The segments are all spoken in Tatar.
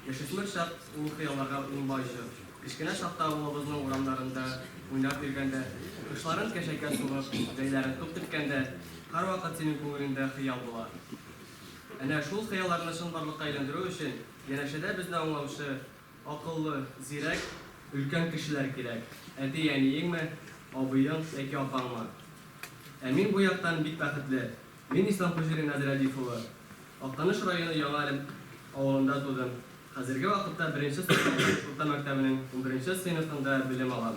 Яшүсмер чак ул хыялларга унбай җор. Кечкенә чакта авылыбызның урамнарында уйнап йөргәндә, кошларын кәшәкә сугып, җәйләрен туп теккәндә, һәрвакыт синең күңелеңдә хыял була. Әнә шул хыялларны чынбарлыкка әйләндерү өчен янәшәдә безне аңлаучы, акыллы, зирәк, өлкән кешеләр кирәк, әти-әниеңме, абыең яки апаңмы? Ә мин бу яктан бик бәхетле, Мин Ислам Хуҗуллин Әзрәдиф улы. Актаныш районы Яңа Әлем авылында тудым. Хәзерге вакытта беренче состав Актаныш урта мәктәбенең унберенче сыйныфында белем алам.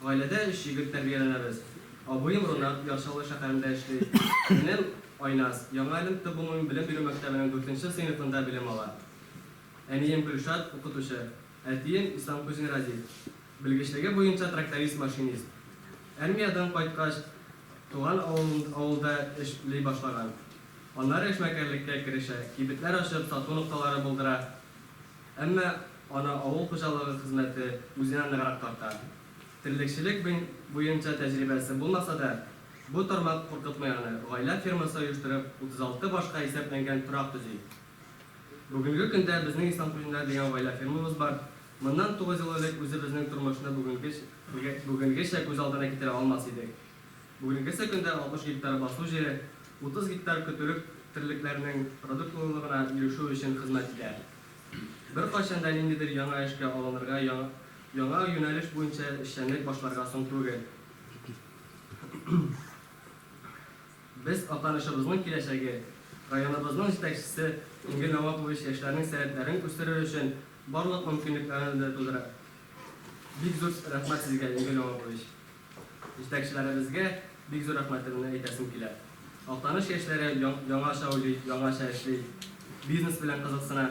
Гаиләдә өч егет тәрбияләнәбез. Абыем Рунат Яр Чаллы шәһәрендә эшли. Энем Айназ Яңа Әлем төп гомуми белем бирү мәктәбенең дүртенче сыйныфында белем ала. Әнием Гөлшат, укытучы. Әтием, Ислам Кузин Радик, белгечлеге буенча тракторист-машинист. Әрмиядән кайткач, туган авылын авылда эш ли башлаган. Аннары эшмәкәрлеккә керешә, кибетләр ачып, сату нокталары булдыра. Әмма аны авыл хуҗалыгы хезмәте үзенә ныграк тарта. Терлекчелек бен буенча тәҗрибәсе булмаса да, бу тармак куркытмый аны, гаилә фермасы оештырып, 36 башка исәпләнгән торак төзи. Бүгенге көндә безнең Исламтуллиннар дигән гаилә фермабыз бар. Моннан тугыз ел элек үзебезнең тормышны бүгенгечә күз алдына китерә алмас идек. Бүгенгесе көндә 60 гектар басу җире, 30 гектар көтүлек терлекләрнең продуктлылыгына ирешү өчен хезмәт итә. Беркайчан да ниндидер яңа эшкә алынырга, яңа юнәлеш буенча эшчәнлек башларга соң түгел. Без Актанышыбызның киләчәге, районыбызның җитәкчесе Энгель Нәвапович яшьләрнең сәләтләрен үстерер өчен барлык мөмкинлекләрне дә тудыра. Бик зур рәхмәт Сезгә, Энгель Нәвапович! Җитәкчеләребезгә бик зур рәхмәтемне әйтәсем килә. Актаныш яшьләре яңача уйлый, яңача эшли, бизнес белән кызыксына.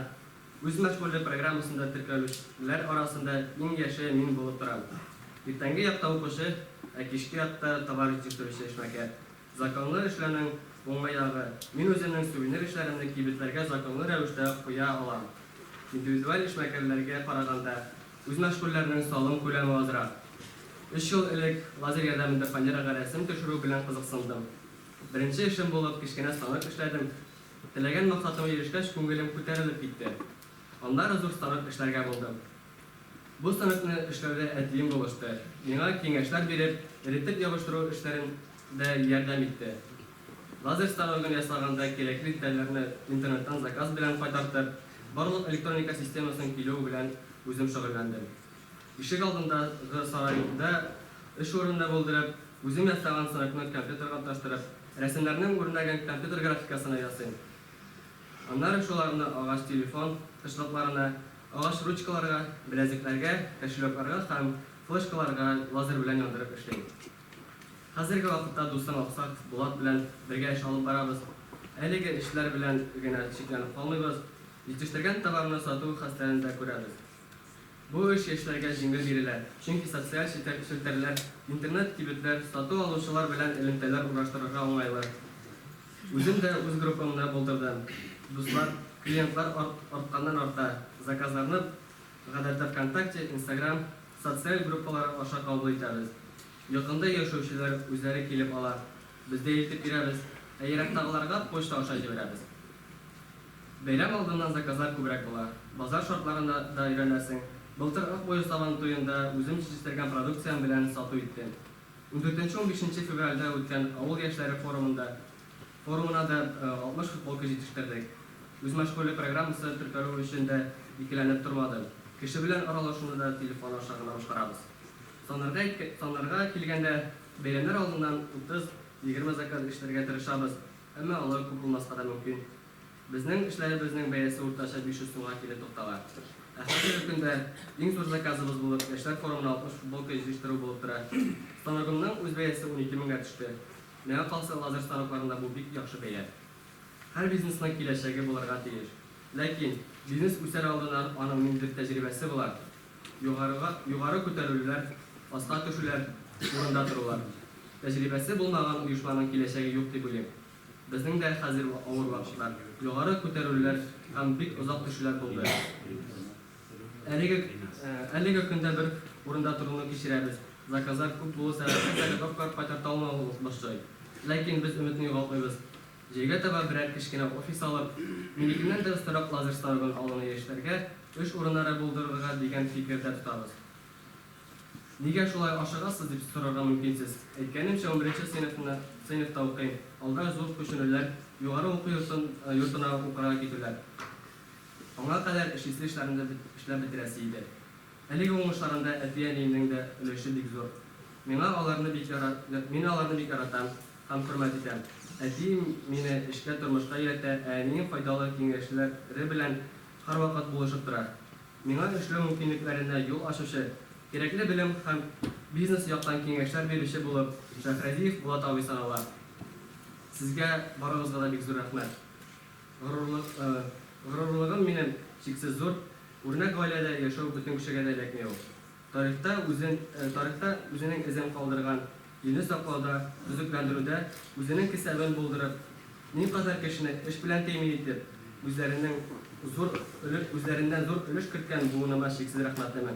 Үз мәшгульлек программасында теркәлүчеләр арасында иң яше мин булып торам. Иртәнге якта укучы, ә кичке якта товар җитештерүче эшмәкәр. Законлы эшләүнең уңай ягы, мин үземнең сувенир эшләремне кибетләргә законлы рәвештә куя алам. Индивидуаль эшмәкәрләргә караганда, үз мәшгульләрнең салым күләме азрак. Өч ел элек лазер ярдәмендә фанерага рәсем төшерү белән кызыксындым. Беренче эшем булып кечкенә станок эшләдем, Теләгән максатыма ирешкәч, күңелем күтәрелеп китте. Аннары зур станок эшләргә булдым. Бу станокны эшләүдә әтием булышты, миңа киңәшләр биреп, эретеп ябыштыру эшләрен дә ярдәм итте. Лазер станогын ясаганда кирәкле детальләрне интернеттан заказ белән кайтартып, барлык электроника системасының килүе белән үзем шөгыльләндем. Ишек алдындагы сарайда өч урынны бүлдереп, үзем ясаган сыныкны компьютерга тоташтырып, рәсемнәрнең үрнәген компьютер графикасына ясыйм. Аннары шуларны агач телефон тышлыкларына, агач ручкаларга, беләзекләргә, кошелёкларга һәм флешкаларга лазер белән яндырып эшлим. Хәзерге вакытта дустым Аксак Булат белән бергә эш алып барабыз. Әлеге эшләр белән генә чикләнеп калмыйбыз, җитештергән товарны сату хәстәрен дә күрәбез. Бу эш яшьләргә җиңел бирелә, чөнки социаль челтәрләр, интернет-кибетләр, сату алучылар белән элемтәләр урнаштырырга уңайлы. Үзем дә үз группамны булдырдым. Дуслар, клиентлар артканнан-арта, заказларны, гадәттә, ВКонтакте, Инстаграм социаль группалары аша кабул итәбез. Якында яшәүчеләр үзләре килеп ала, Без дә илтеп бирәбез, ә ерактагыларга почта аша җибәрәбез. Бәйрәм алдыннан заказлар күбрәк була. Базар шартларына да өйрәнәсең. Былтыр Ак буе сабан туенда үзем җитештерген продукциям белән сату иттем. Ундүртенче-унбишенче февральдә үткән авыл яшьләре форумында форумына да 60 футболка җитештердек. Үзмәшгульлек программасы теркәлү өчен дә икеләнеп тормадым. Кеше белән аралашуны да телефон аша гына башкарабыз. Санарга санарга килгәндә, Бәйрәмнәр алдыннан 30-20 заказ эшләргә тырышабыз, әмма алар күп булмаска да мөмкин. Безнең эшләребезнең бәясе уртача 500 сумга килеп туктала. Ә хәзерге көндә иң зур заказыбыз булып яшьләр форумына 60 футболка җитештерү булып тора. Станогымның үз бәясе 12 меңгә төште. Миңа калса, лазер станокларында бу бик яхшы бәя. Һәр бизнесның киләчәге булырга тиеш. Ләкин, бизнес үсәр алдыннан аның ниндидер тәҗрибәсе була. Югарыга югары күтәрелүләр, аска төшүләр, урында торулар. Тәҗрибәсе булмаган оешманың киләчәге юк дип уйлыйм. Безнең дә хәзер авыр вакытлар, югары күтәрелүләр һәм бик озак төшүләр булды. Әлеге әлеге көндә бер урында торуны кичерәбез, заказлар күп булу сәбәпле, заготовкалар кайтарталмау башлый. Ләкин без өметне югалтмыйбыз. Җәйгә таба берәр кечкенә офис алып, минекеннән дә остарак лазер станогын алуны яшьләргә эш урыннары булдырырга дигән фикердә тотабыз. Нигә шулай ашыгасыз, дип сорарга мөмкинсез. Әйткәнемчә, унберенче сыйныфны сыйныфта укыйм, алда зур күченүләр, югары уку йортын йортына укырга китүләр. Аңа кадәр эш исле эшләрне дә эшләп бетерәсе иде. Әлеге уңышларында әти-әниемнең дә өлеше бик зур. Миңа аларны бик яра мин аларны бик яратам һәм хөрмәт итәм. Әтием мине эшкә, тормышка өйрәтә, ә әнием файдалы киңәшлә ре белән һәрвакыт булышып тора. Миңа эшләү мөмкинлекләренә юл ачучы, кирәкле белем һәм бизнес яктан киңәшләр бирүче булып Шәһрәдиев Булат абый санала. Сезгә барыгызга да бик зур рәхмәт. Горурлыгым минем чиксез зур, Үрнәк гаиләдә яшәү бөтен кешегә дә эләкми ул. Тарихта үзенең эзен калдырган илне саклауда, төзекләндерүдә үзенең кесәвен булдырып, никадәр кешене эш белән тәэмин итеп, үзләреннән зур өлеш керткән буыныма чиксез рәхмәтлемен.